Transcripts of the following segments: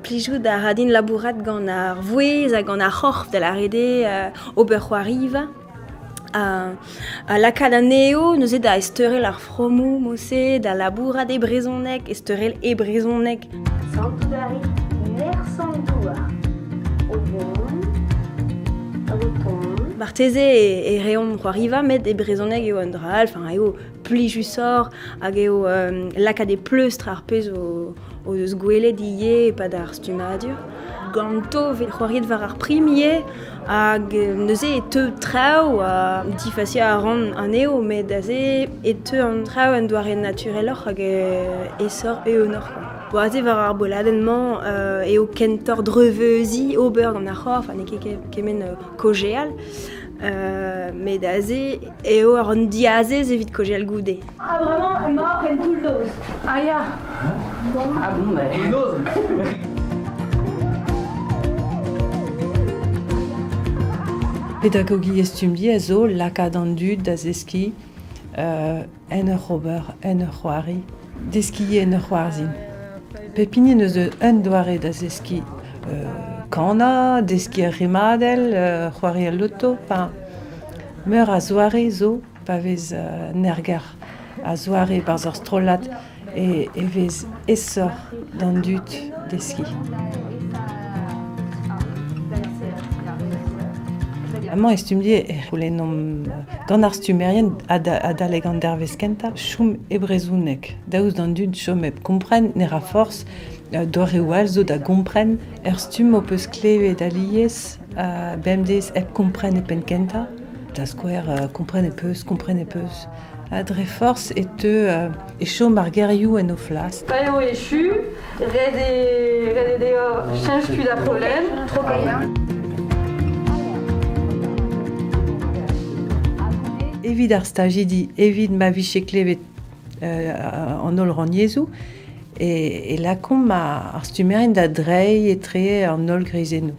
Plijout a ra din labourat gant ar vouezh ha gant ar c'horf, da lâret eo, ober c'hoariva. Ha lakaat anezho neuze da ezteurel ar fromoù, mod-se da labourat e brezhoneg, ezteurel e brezhoneg. Santout a rit nerzh an douar o vont, o tont. Marteze e, reomp c'hoariva, met e brezhoneg eo un dra all, enfin eo plijusoc'h hag eo euh, lakaat e pleustr ar pezh o, o eus gwelet ivez e-pad ar stummadur. Ganto 'vit c'hoariet war ar primier Hag neuze e teu traoù ha difasiañ a ran anezho met aze e teu an traoù en doare natureloc'h hag e sor eeunoc'h kwa. Bo aze war ar boladenn-mañ eo kentoc'h dreuzeuziñ ober gant ar c'horf ha n'eo ket kement kaozeal met aze eo an diazez evit kaozeal goude. Ah, vraiment, mort en tout dos. Ah, ya. Ah bon, Pedagogi estumdi a zo lakaat an dud da zeski uh, en ur ober, en ur c'hoari, deski en ur c'hoarzin. Pep hini eus un doare da zeski uh, kana, deski ar rimadell, uh, c'hoari al loto, meur a zoare zo pa vez an erger a-zoare barzh ur strollad e vez aesoc'h d'an dud deskiñ. Amañ e stumm-die e c'houlennomp gant ar stummerien adalek an dervezh kentañ chom e brezhoneg, daoust d'an dud chom hep kompren ne ra forzh doareoù all zo da gompren. Er stumm ho peus klevet alies Bemdez hep kompren e penn-kentañ, da skouer kompren e peus, kompren e peus. Ha dre forzh e teu e chom ar gerioù en o flas. Pa eo echu, ret eo deoc'h cheñch tu da pollen, tro Evit ar stajidi, evit ma vije klevet an holl rannyezhoù e, e lakaomp ar stummerien da dreiñ etre an holl greizennoù.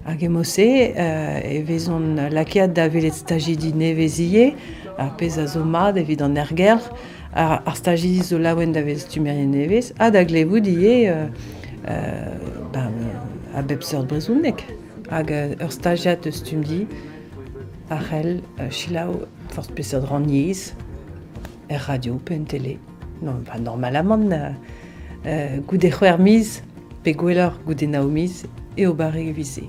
Hag emo-se e vezont lakaet da welet stajidi nevez ivez, ar pezh a zo mat evit an erger, ar, ar stajidi zo laouen da vezañ stummerien nevez ha da glevout ivez ben, a bep seurt brezhoneg. Hag ur stajiad eus Stumdi a c'hell selaou forzh peseurt rannyezh er radio pe en tele. normalamant goude c'hwec'h miz pe gwelloc'h goude nav miz eo barrek evit-se.